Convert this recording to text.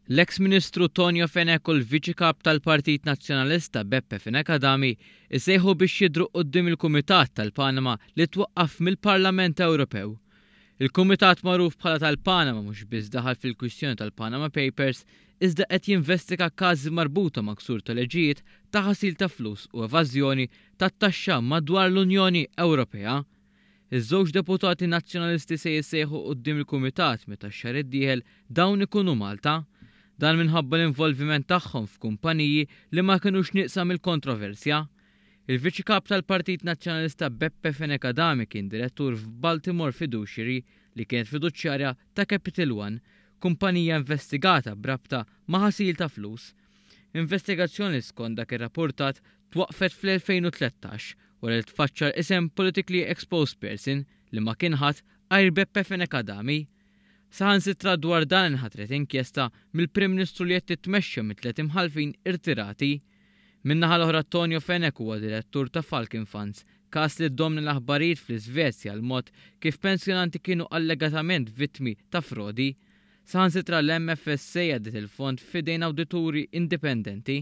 L-eks Ministru Tonio Fenech u l-Viċi Kap tal-Partit Nazzjonalista Beppe Fenech Adami jsejħu biex jidhru quddiem il-Kumitat tal-Panama li twaqqaf mill-Parlament Ewropew. Il-Kumitat magħruf bħala tal-Panama mhux biss daħal fil-kwistjoni tal-Panama Papers iżda qed jinvestiga każi marbuta ma' ksur ta' liġijiet ta' ħasil ta' flus u evażjoni tat-taxxa madwar l-Unjoni Ewropea. Iż-żewġ deputati Nazzjonalisti se jissejħu quddiem il-Kumitat meta x-xahar id-dieħel dawn ikunu Malta. Dan minħabba l-involviment tagħhom f'kumpaniji li ma kinux nieqsa mill-kontroversja. Il-Viċi Kap tal-Partit Nazzjonalista Beppe Fenech Adami kien direttur f'Baltimore Fiduciary li kienet fiduċjarja ta' Capital One, kumpanija investigata b'rabta ma' ħasil ta' flus. Investigazzjoni skont dak irrappurtat Twaqqfet fl-2013 wara li tfaċċa l-isem Politically Exposed Person li ma kien ħadd għajr Beppe Fenech Adami. Saħansitra dwar dan inħatret inkjesta mill-Prim Ministru li qed titmexxa minn tliet imħallfin irtirati. Min-naħa l-oħra Tonio Fenech huwa direttur ta' Falcon Funds, każ li ddomna l-aħbarijiet fl-Isvezja l-mod kif pensjonanti kienu allegatament vittmi ta' frodi. Saħansitra l-MFSA għaddiet il-fond f'idejn awdituri indipendenti.